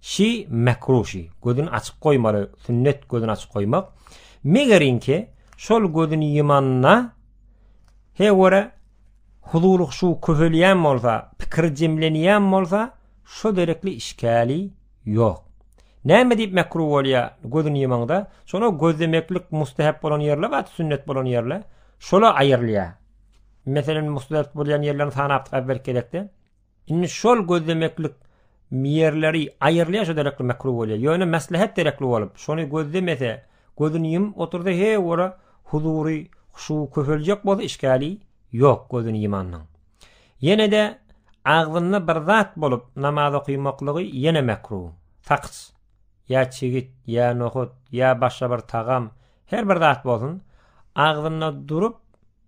Şi mekruh şi, gözüni açyk goýmaly, sünnet gözüni açyk goýmak. Megerinki şol gözüni ýymanda he göre huzuly şu köhelýän bolsa, pikir jemlenýän bolsa, şo derekli işgäli ýok. Näme diýip mekruh bolýar gözüni ýymanda? Şola gözlemeklik mustahap bolan ýerler bar, sünnet bolan ýerler. Şola aýrylýar. Meselem, mustahap bolýan ýerlerini sanapdyk äwwelki gezekde. Indi şol gözlemeklik ýerleri aýyrylýar şo derekli mekruh bolýar. Ýöne meslehet derekli bolup, şony gözlemese, gözüni ýumup otursa he ora huzury, huşu köpeljek bolsa işgäli ýok gözüni ýymanyň. Ýene-de agzynda bir zat bolup namaz okymaklygy ýene mekruh. Sakys, ýa çigit, ýa nohut, ýa başga bir tagam, her bir zat bolsun, agzynda durup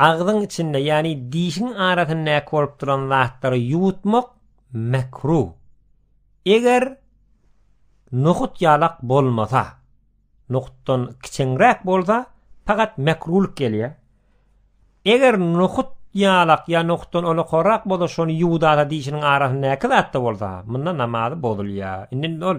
Agzyň içinde, ýagny dişiň arasyndaky bolup duran zatlary ýuwutmak mekruh. Eger nohut ýalak bolmasa, nohutdan kiçeňräk bolsa, pagat mekruhlyk gelýär. Eger nohut ýalak ýa nohutdan olakorak bolsa, şony ýuwdada dişiniň arasyndaky zatda bolsa, munda namazy bozulýar. Indi ol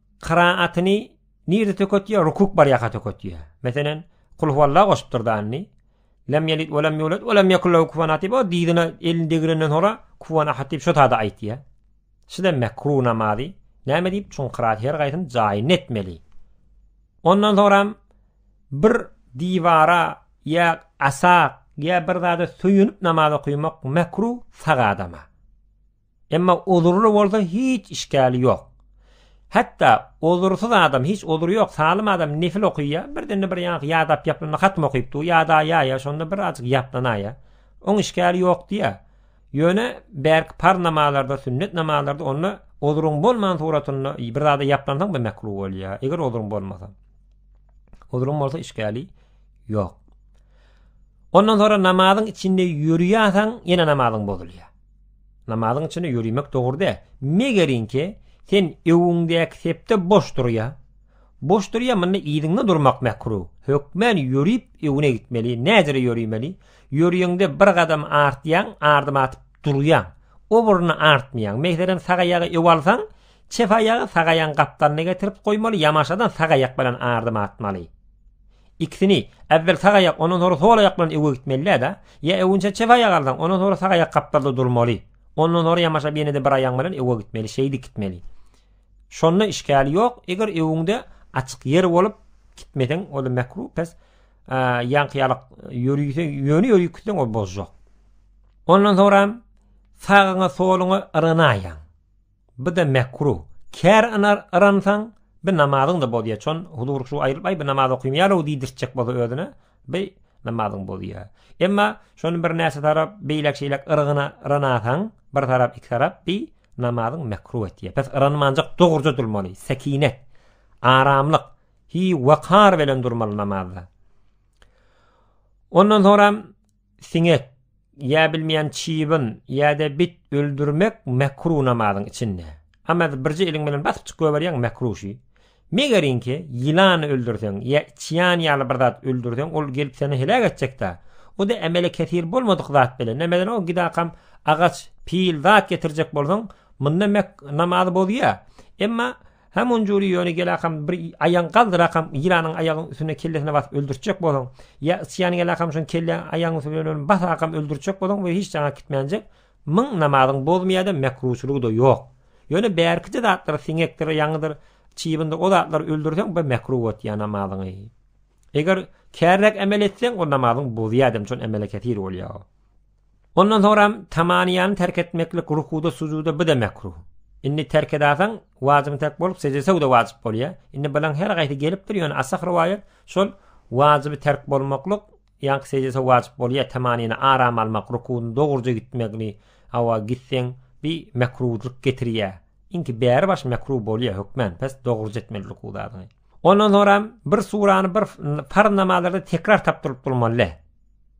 Kyraatini nirde töketýär? Rukuk bar ýaka töketýär. Meselen, kul huwalla goşupdyr danyny. Lem ýelit we lem ýulat we lem ýekul lahu kufuwan ahad diýip, o dizine elini degrenden sonra kufuwan ahad diýip şo taýda aýtýar. Şuda mekru namazy. Näme diýip? Çünki kyraat her gaýsyny jaýyny etmeli. Ondan soňra bir diwara ýa asa ýa bir zada söýünip namaz okumak mekru sag adama. Emma ozurly bolsa hiç işgäli ýok. Hatda ozursyz adam hiç ozury ýok salym adam nefil okyýa birdende bir ýaňky ýadap ýaplanda hatm okyp dur ýadaýaýa şonda bir azyk ýaplanaýa oň işgäli ýok diýä ýöne bärki parz namazlarda sünnet namazlarda onda ozuryň bolman suratynda bir zada ýaplansaň bir mekru bolýa eger ozuryň bolmasa ozuryň bolsa işgäli ýok ondan sonra namazyň içinde ýörýäsaň ýene namazyň bozulýa Namazyň içinde ýörimek dogry dä. Megerinki, sen öwüňdäki sepde boş durýa. Boş durýa, munda yzyňda durmak mekruh. Hökmän ýörip öwüne gitmeli. Näcere ýörimeli? Ýörýeňde bir gadam artýaň, ardyma atyp durýaň. O birini artmaýaň. Meselem, sag aýagy öw alsaň, çep aýagy sag aýagyň gapdalyna getirip goýmaly, ýamaşadan sag aýak bilen ardyma atmaly. Ikisini, äwwel sag aýak, ondan soňra sol aýak bilen öwgä gitmeli-dä. Ýa öwünçä çep aýagy alsaň, ondan soňra sag aýak gapdalda durmaly. Ondan soňra ýamaşap ýene-de bir aýagyň bilen öwgä gitmeli, şeýdip gitmeli. Şonda işgäli ýok. Eger öwüňde açyk ýer bolup, gitmeseň, ol-da mekruh, pes. Ýaňky ýalak ýöriseň, ýöne ýörüp gitseň, ol bozjak. Ondan soňra hem sagyňa, soluňa yrganaýaň. Bida mekru, kär anar yransaň, bi namazyň-da bozýa, çon huzur şu aýrylyp, aý, bi namaz okymaýar-ow diýdirtjek bolsa özüne, bi namazyň bozýa. Emma şony bir näçe tarap beýläk şeýläk yrygyna yranasaň, bir tarap, iki tarap, bi namazyň mekru etýä. Pes yranmanjak dogruja durmaly, sekinet, aramlyk, hi-wakar bilen durmaly namazda. Ondan soňra siňek, ýa bilmeýän çybyn, ýa-da bit öldürmek mekruh namazyň içinde. Amaz birje eliň bilen basyp çyk goýberýäň mekruh şu. Megerinki ýylany öldürseň, ýa çýan ýaly bir zat öldürseň ol gelip seni heläk etjekdä. O-da emele kesir bolmadyk zat bile. Nämeden o gidakam agaç, pil zat getirjek bolsaň, munda mek namazy bozýa. Emma Hä munjuri ýöne gelakam bir aýagyň galdyrakam ýylanyň aýagyň üstüne kellesine basyp öldürtjek boluň. Ýa ysyýan gelakam şoň kelle aýagyň üstüne bilen basakam öldürtjek boluň we hiç jaňa gitmänjek. Myň namazyň bozmaýada mekruçylygyda ýok. Ýöne bärkije zatlar siňekdir ýaňydyr çybyndyr o zatlary öldürseň bir mekru botýa namazyňy. Eger kärräk emel etseň o namazyň bozýadem şon emele kesir bolýa o. Ondan soňram tamaniýany terk etmeklik rukuda sujuda bu-da mekruh. Indi terk edasaň wajybyny terk bolup sejde söw-de wajyp bolýa. Indi bulaň her gaýsy gelipdir ýöne asah rowaýat şol wajyby terk bolmaklyk ýaňky sejde söw wajyp bolýa tamaniýany aram almak rukuny dogruja gitmegni awa gitseň bi mekruhlyk getirýa. Inki bäri baş mekruh bolýa hökmän pes dogruja etmeli ruku zadyňy. Ondan soňram bir surany bir farz namazlarda tekrar tapdyryp durmaly.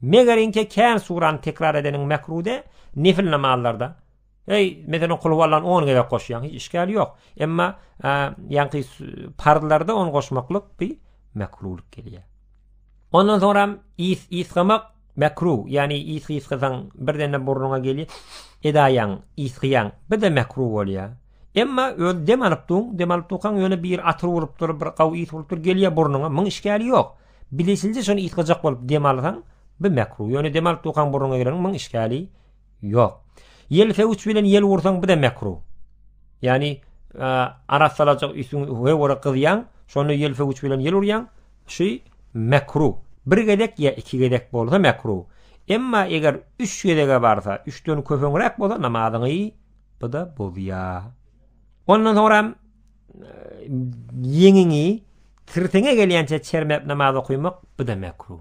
Meger inçe kän surany tekrar edeniň mekrude, nefil namazlarda, eý, meselem kulhuwallany on gezek goşýaň, hiç işgäli ýok. Emma, ýaňky parzlarda ony goşmaklyk bi mekrulyk gelýär. Ondan soňram ýs ýsgamak mekru, ýagny ýs ýsgasaň birden-de burnuňa geli edaýaň, ýsgýaň, bir-de mekru bolýar. Emma özi dem alyp dur, dem alyp durkaň ýöne bir atyr urupdyr, bir gawy ýs urupdyr, gelýär burnuňa, muň işgäli ýok. Bilişinje şony ýytgajak bolup dem alsaň by mekruh. Ýöne dem alyp dukaň burnuňa gireň muň işgäli ýok. Ýel fewç bilen ýel ursaň bu da mekruh. Ýani arassalajak üsüň we wara gyzýaň, şonda ýel fewç bilen ýel urýaň, şi mekruh. Bir gezek ýa iki gezek bolsa mekruh. Emma eger üç gezege barsa, üçden köpeňräk bolsa namazyňy bu da bozýa. Ondan soňram ýeňiňi tirseňe gelýänçe çermäp namaz okaýmak bu da mekruh.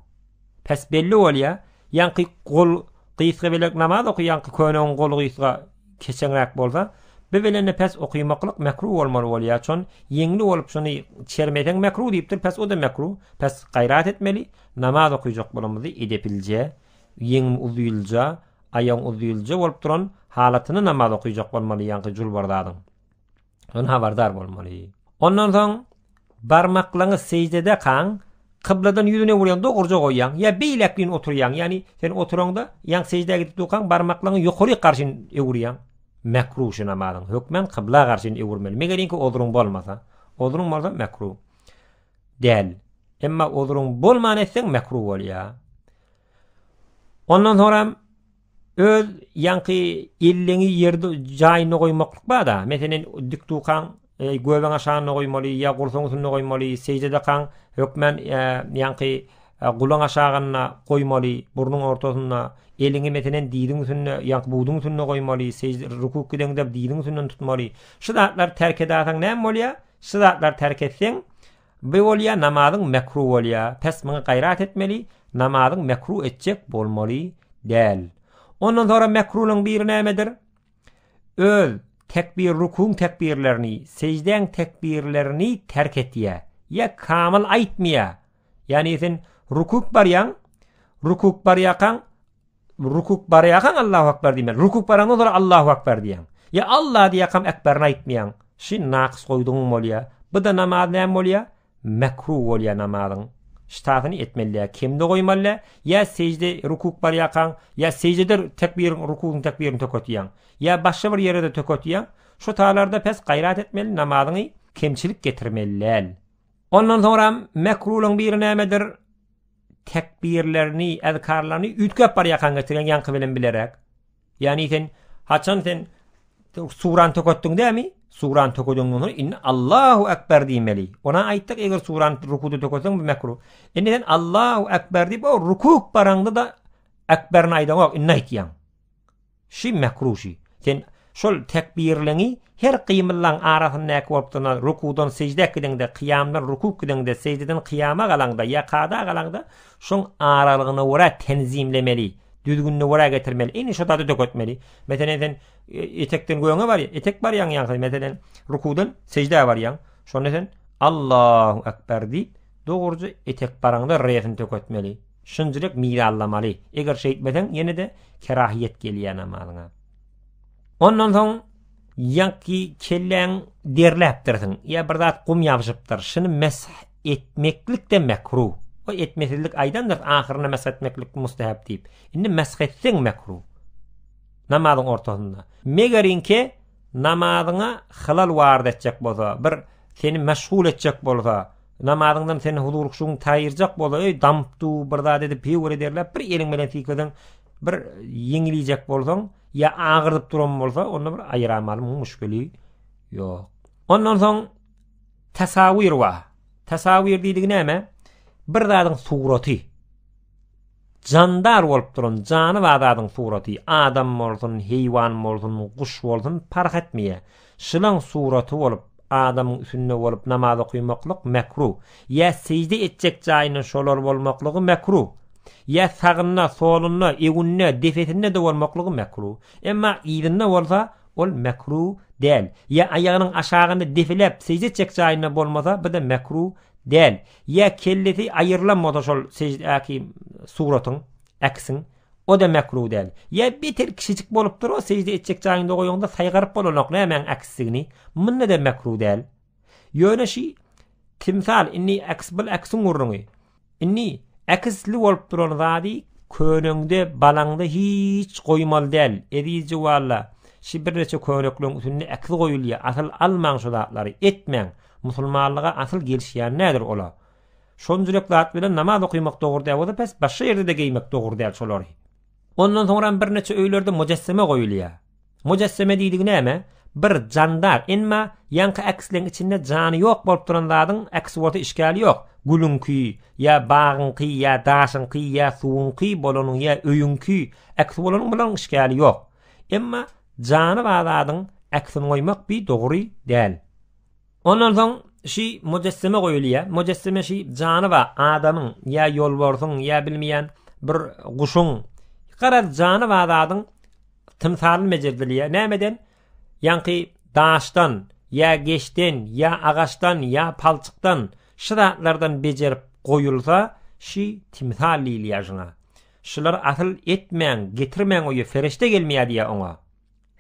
Pes belli bolýar, ýaňky gol gysga belek namaz okaýanky köneň goly gysga keçeňräk bolsa, bu belende pes okaýmaklyk mekruh bolmaly bolýar. Çon ýeňli bolup şony çermeseň mekruh diýipdir, pes o da mekruh. Pes gaýrat etmeli, namaz okaýjak bolamyzy edeplje, ýeňim uzylja, Aýagyň uzylja bolup duran halatynda namaz okyjak bolmaly ýaňky julbardadyň. Ony habardar bolmaly. Ondan soň barmaklaňy sejdede kaň kybladan ýüzün öwürýäň dogruja goýýaň ýa beýläkleýin oturýaň ýagny sen oturaňda ýaň sejdä gidip durkaň barmaklaňy ýokaryk garşyn öwürýäň mekruh şu namazyň hökmen kybla garşyn öwürmeli megelinki ozruň bolmasa ozruň bolsa mekruh däl emma ozruň bolman etseň mekruh bolýa Ondan soňram öz ýaňky elleňi ýerde jaýynda goýmaklyk bar-da. Meselen, dik dukaň, e, göbäň aşagynda goýmaly ýa gursagyň üstünde goýmaly, seýje dakaň hökmän e, ýaňky e, gulaň aşagynda goýmaly, burnuň ortasynda, eliňi meselen diziň üstünde, ýaňky buduň üstünde goýmaly, seýje rukuk gideňde diziň üstünden tutmaly. Şu zatlar terk edasaň näme bolýar? Şu zatlar terk etseň, Bi bolýa namazyň mekru bolýa pes muňa gaýrat etmeli namazyň mekru etjek bolmaly däl ondan sonra mekrunyň biri nämedir öz tekbir rukuň tekbirlerini sejdäň tekbirlerini terk etýä ýa kamyl aýtmaýa ýa neýsin rukuk barýaň rukuk barýakaň Rukuk barýarkaň Allahu akbar diýmeli. Rukuk baraňdan soň Allahu akbar diýýäň. Ýa Allah diýýäňkam akbaryny aýtmaýaň. Şi nakys goýdugyň bolýa. Bu da namaz näme bolýa? Mekruh bolýa namazyň. Ştatyny etmelidä kemde goýmaly. Ýa sežde rukuk barýarkaň, ýa seždede tekbir rukugyň tekbirini töketýäň. Ýa başga bir ýere de töketýäň. Şu taýlarda pes gaýrat etmeli namazyňy kemçilik getirmeli däl. Ondan soňra mekruhyň biri nämedir? tekbirlerini, äzkarlaryny üýtgäp barýarkaň getirýän ýaňky bilen bilerek. Ýani sen haçan sen suran töketdiň dämi? Suran tökediňden soň indi Allahu akbar diýmeli. Ona aýtdyk, eger suran rukuda tökeseň bu mekruh. Indi sen Allahu akbar diýip, o rukuk baraňda da akbaryny aýdaňok, indi aýtýaň. Şi mekruh-şi. Sen şol tekbirleňi her gymyllaň arasyndaky bolup durana, rukudan sejdä gideňde, kyýamdan ruku gideňde, sejdeden kyýama galaňda ýa kada galaňda şoň aralygyna görä tenzimlemeli, düzgünine görä getirmeli. Indi şo zady döketmeli. Meselen, sen etekden göňe barýaň, etek barýaň ýa-da meselen, rukudan sejdä barýaň. Şonda sen Allahu ekber diýip, dogruja etek baraňda R-ni döketmeli. Şunçalyk mirallamaly. Eger şeýtmeseň, ýene-de kerahyýet gelýär namazyňa. Ondan soň ýaňky kelläň derläpdirsiň, ýa bir zat gum ýabyşypdyr, şuny mesh etmeklik-de mekruh. O etmesizlik aýdandyr, ahyrynda mesh etmeklik mustahap diýip. Indi mesh etseň mekruh. Namazyň ortasynda. Megerin ki, Namazyňa hylal waryt etjek bolsa, bir seni meşgul etjek bolsa, namazyňdan seni huzur-huşugyňy taýyrjak bolsa, eý, damypdy, bir zat edip, hüwür ederläp, bir eliň bilen sykeseň, bir ýeňilýjek bolsaň, ýa agyrdyp duran bolsa, onda bir aýyramaly, muň müşgili ýok. Ondan soň tasawir bar. Tasawir diýdigi näme? Bir zadyň suraty. Jandar bolup duran jany bar zadyň suraty, adam bolsun, heýwan bolsun, guş bolsun, parh etmeýär. Şylaň suraty bolup, adamyň üsünde bolup namaz okymaklyk mekru. Ýa sežde etjek jaýynda şolar bolmaklygy mekru. Ýa sagynda, solunda, öňünde, depesinde-de bolmaklygy mekru. Emma yzynda bolsa, ol mekru däl. Ýa aýagynyň aşagynda depeläp sežde etjek jaýynda bolmasa, bu-da mekru däl. Ýa kellesi aýyrlan bolsa şol seždäki suratyň, äkisiň, o-da mekruh däl. Ýa beter kiçijik bolupdyr, o sežde etjek jaýyňda goýaňda saýgaryp bolanok nämäň äksidigini, munda-da mekruh däl. Ýöne şi timsal, indi äkis bul äkisiň gurruňy. Indi äkisli bolup duran zady köneňde, balaňda hiç goýmaly däl, ezizje walla, şi birneçe könekleň üstünde äkis goýulýar, asyl almaň şo zatlary, etmäň. Musulmanlyga asyl gelişýän nädir ola. Şonjurek zat bilen namaz okymak dogry däl bolsa pes başga ýerdede geýmek dogry däl şolary. Ondan soňram bir neçe öýlerde mojesseme goýulýa. Mojesseme diýdigi näme? Bir jandar emma ýaňky äksleň içinde jany ýok bolup duran zadyň äksi bolsa işgäli ýok. Gülüňki ýa bagyňky ýa daşyňky ýa suwuňky bolanyň ýa öýüňki äksi bolanyň bilen işgäli ýok. Emma jany bar zadyň äksini goýmak bi dogry däl. Ondan soň şi mujessime goýulýar. Mujessime şi jany bar adamyň ýa ýolbarsyň ýa bilmeýän bir guşuň. Garaz jany bar zadyň tymsaly mejerdilýär. Nämeden? Ýaňky daşdan ýa geçden ýa agaçdan ýa palçykdan şu zatlardan bejerip goýulsa şi timsal diýilýär şuňa. Şular asyl etmäň, getirmäň öýe ferişde gelmeýär diýýär oňa.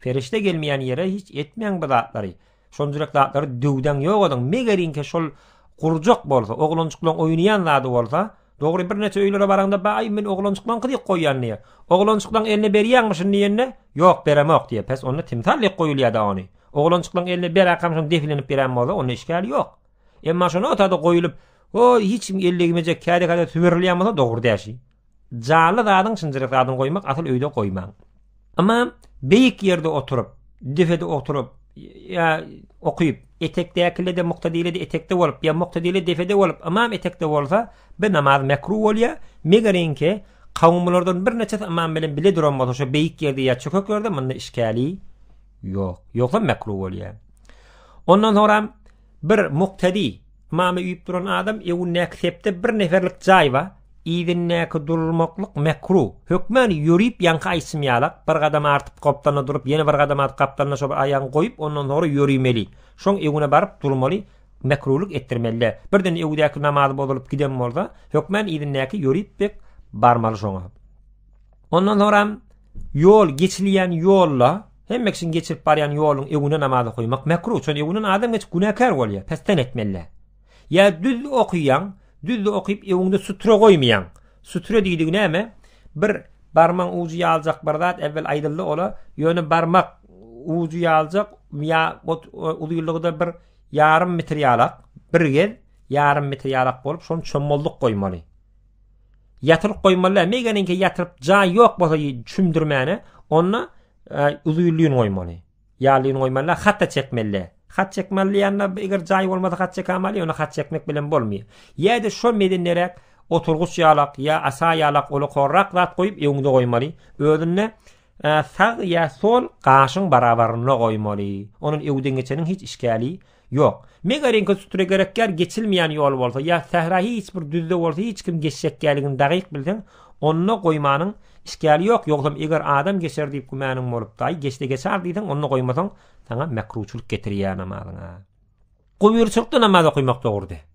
Perişde gelmeýän ýere hiç etmäň bu zatlary. Şonjurek zatlary döwdäň ýok ediň. Megeriňki şol gurjak bolsa, oglanjyklaň oýnaýan zady bolsa, dogry birneçe öýlere baraňda baý men oglanjyklaňky diýip goýýan diýe. Oglanjyklaň eline berýäňmişin diýende, ýok beremok diýe. Pes onda timsal diýip goýulýada ony. Oglanjyklaň eline beräkamşin defilenip berän bolsa onda işgäl ýok. Emma şonota-da goýulyp, hoý hiç kim ellegmejek käde-käde süberilýän bolsa dogry däşi. Jaly zadyň şinjirek zadyny goýmak asyl öýde goýmaň. Emma beýik ýerde oturyp, depede oturyp ýa okyp, etekdäkilede muktadilede etekde bolup ýa muktadile depede bolup ymam etekde bolsa bi namaz mekruh bolýar. Megerenki kawumlardan bir neçesi ymam bilen bile duran bolsa şo beýik ýerde ýa çökek ýerde munda işgäli ýok. Ýogsa mekruh bolýar. Ondan soňra Bir muktedi, mama üýüp duran adam öwündäki sepde bir neferlik jaý bar, yzyndaky durmaklyk mekru. Hökman ýörüp ýaňky aýçym ýalak, bir gadam artyp gapdalynda durup, ýene bir gadam atyp gapdalynda şo bir aýagyňy goýup, ondan soňra ýöremeli. Şoň öwüne baryp durmaly, mekrulyk etdirmeli-dä. Birden öwüdäki namazy bozulyp giden bolsa, hökman yzyndaky ýörüp bek barmaly şoňa. Ondan soňram ýol geçilýän ýolda hemme kişiň geçirip barýan ýoluň öňüne namazy goýmak mekruh. Çünki öňünden adam geçip günäkär bolýar, pesden etmeliler. Ýa düz okýaň, düz okyp öňünde sutra goýmaýaň. Sutra diýdigi näme? Bir barmagyň ujy ýaljak bir zat äwwel aýdyldy ola, ýöne barmak ujy ýaljak ýa uzynlygy-da bir ýarym metr ýalak, bir gez ýarym metr ýalak bolup, şonuň çommallyk goýmaly. Ýatyryp goýmaly, meýgeniňki ýatyryp jaý ýok bolsa çümdürmäne, onda e, uzuý lýun goýmaly. Ýa lýun goýmaly, hat-da çekmeli. Hat çekmeli diýende, eger jaý bolmasa hat çekämeli, ýöne hat çekmek bilen bolmaýar. Ýa-da şo medenderäk oturgyç ýalak ýa asa ýalak ola korrak zat goýup öňde goýmaly. Özünde e, sag ýa sol gaşyň barabarynda goýmaly. Onuň öwden geçeniň hiç işgäli Ýok. Mega reňke sutra gerekýär, geçilmeýän ýol bolsa, ýa sähra hiç bir düzde bolsa hiç kim geçjekgäligini dagyk bilseň, onda goýmanyň işgäli ýok, ýogsam eger adam geçer diýip gümanyň bolup, daýy geçse geçar diýseň, onda goýmasaň, saňa mekruçylyk getirýär namazyňa. Gobyrçylykda namaz okaýmak dogrudy.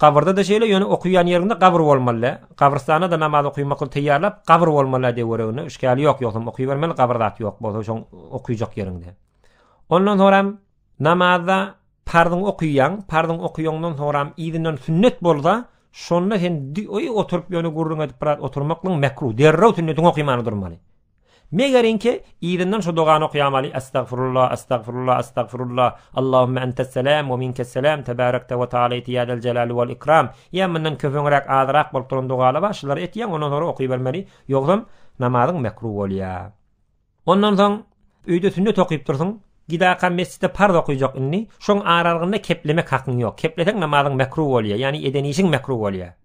Gabyrda-da şeýle, ýöne okaýan ýeriňde gabyr bolmaly-da. Gabrystanda-da namaz okaýmak ol teýýarlap, gabyr bolmaly-da dewereginde, işgäli ýok, ýogsam okaýbermeli, gabyr zat ýok bolsa şoň okaýjak ýeriňde. Ondan soňram namazda parzyňy okaýaň, parzyňy okaýaňdan soňram yzyndan sünnet bolsa, şonda sen oýup oturyp ýöne gürrüň edip biraz oturmaklygyň mekruh, derrew sünnetiňi oky many durmaly. Megerňki, yzyndan şu dogany okaýamaly, Estagfirullah, estagfirullah, estagfirullah, Allahümme entesselam we minkesselam, tebarekte we taalaýte ýa zeljelali wal ikram. Ýa mundan köpeňräk, azyrak bolup duran dogalar bar, şulary etýäň, ondan soňra okybermeli, ýogsam namazyň mekruh bolýa. Ondan soň öýde sünnet okyp dursuň, gidaka mesjitde parz okyjak indi, şoň aralygynda keplemek hakyň ýok. Kepleseň namazyň mekruh bolýa, ýagny eden işiň mekruh bolýa.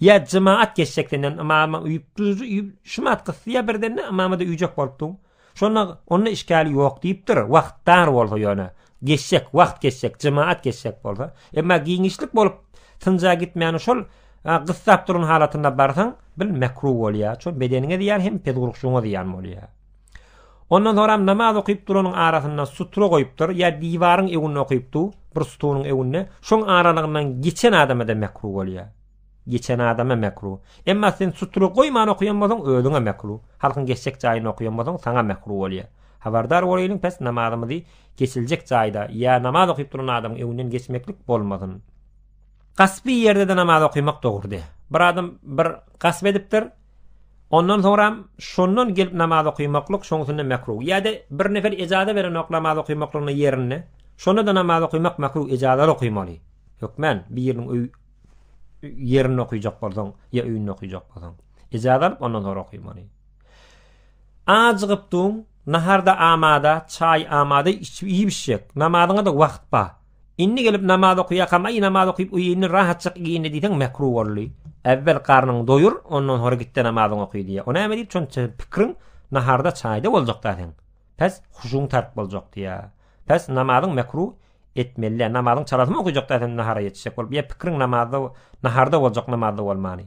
Ýa jemaat geçjek senden ymama uýupdyr, şumat gysýa birdenne ymama-da uýjak bolupdyň. Şonda onda işgäli ýok diýipdir, wagt dar bolsa ýöne. Geçjek, wagt geçjek, jemaat geçjek bolsa. Emma giňişlik bolup synja gitmäni şol gyssap duran halatynda barsaň, bil mekruh bolýar. Şol bedeniňe zyýan hem pezgurukçyňa zyýan bolýar. Ondan soňram namaz okyp duranyň arasynda sutra goýupdyr, ýa diwaryň öňünde okypdy, bir stunyň öňünde, şoň aralygyndan geçen adama-da mekruh bolýa. Geçen adama mekruh. Emma sen sutra goýman okyan bolsaň özüňe mekruh. Halkyň geçjek jaýynda okyan bolsaň saňa mekruh bolýa. Habardar bolaýlyň pes namazymyzy geçiljek jaýda ýa namaz okyp duran adamyň öňünden geçmeklik bolmasyn. Gaspy ýerde-de namaz okýmak dogry dä. Bir adam bir gasp edipdir. Ondan soňram şondan gelip namaz okymaklyk şoňsunda mekruh. Ýa-da bir nefer ejaza berenok namaz okymaklygyna ýerinde. Şonda-da namaz okymak mekruh ejazaly okymaly. Hökmän biriniň öý ýerinde okyjak bolsaň ýa öýünde okyjak bolsaň. Ejaza alyp ondan soň okymaly. Ajygypdyň, naharda amada, çaý amada, içip iýip içjek. Namazyňa-da wagt bar. Indi gelip namaz okyakam aý namaz okyp uýyny rahatjak giyindi diyseň mekru boldy. Äwwel garnyňy doýur ondan sonra gitde namazyňy oky diýýär. O näme diýip şonça pikriň naharda çaýda boljakda seň. Pes huşuň tark boljak diýýär. Pes namazyň mekru etmelidä namazyň çalasymy okyjakda sen nahara ýetişjek bolup ýa pikriň namazda naharda boljak namazda bolmany.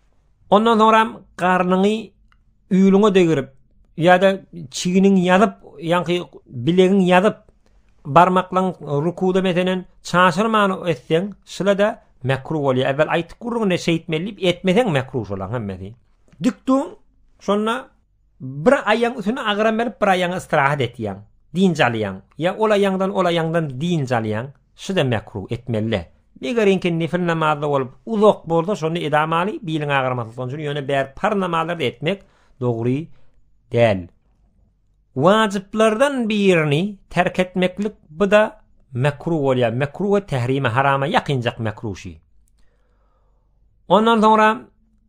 Ondan soňram garnyňy ýüliňe degirip ýa-da çiginiň ýazyp, ýaňky bilegiň ýazyp, barmaklaň rukuda meselen çaşyrman etseň, şyla-da mekruh bolýar. Äwel aýtyp gurrun, indi şeýtmeli diýip etmeseň mekruh şolaň hemmesi. Dik dur, şonda Bir aýaň üsüne agram berip bir aýaňa ystrahat etýäň, dynç alýaň, ýa ol aýaňdan ol aýaňdan dynç alýaň, şuda mekruh, etmelide. Megeriňki nifl namazda bolup uzak bolsa şonda edamaly, biliň agramasa şoň üçin ýöne bäri parz namazlarda etmek dogry däl. Wajyplardan birini terk etmeklik buda mekruh bolýar, mekruh we tehrime harama ýakynjak mekruh şi. Ondan soňra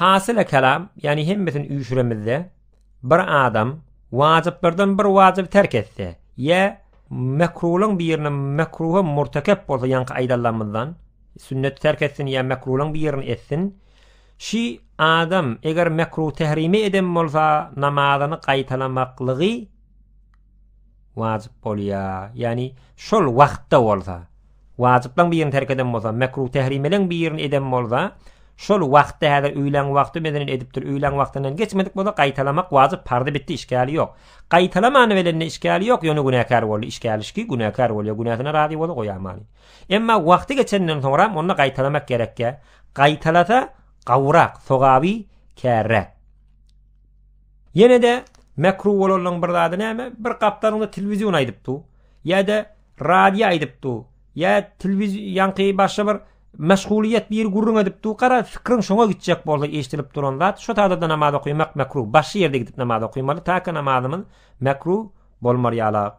Hasyla kelam, ýagny hemmesini üýşüremizde, bir adam wajyplardan bir wajyby terk etse, ýa mekruhlaryň birini mekruha murtekep bolsa ýaňky aýdanlarymyzdan, sünneti terk etsin ýa mekruhlaryň birini etsin, şi adam eger mekruh tehrimi eden bolsa namazyny gaýtalamaklygy wajyp bolýar. Ýagny şol wagtda bolsa, wajyplaň birini terk eden bolsa, mekruh tehrimeleň birini eden bolsa, şol wagtda häzir öýlän wagty meden edipdir, öýlän wagtyndan geçmedik bolsa gaýtalamak wajyp, pardy bitdi, işgäli ýok. Gaýtalamany belende işgäli ýok, ýöne günäkär boldy, işgälişki günäkär bolýar, günäsine razy bolsa goýamany. Emma wagty geçenden soňram onda gaýtalamak gerekýär. Gaýtalasa gowrak, sogaby kärräk. Ýene-de mekruh bolanlaryň bir zady näme? Bir gapdalynda telewizion aýdyp dur, ýa-da radio aýdyp dur, ýa telewiz ýaňky başga bir meşgulyýet biri gürrüň edip dur, gara, pikiriň şoňa gitjek bolsa eşidilip duran zat, şu taýda-da namaz okaýmak mekruh, başga ýerde gidip namaz okaýmaly, ta ki namazymyz mekruh bolmar ýalak.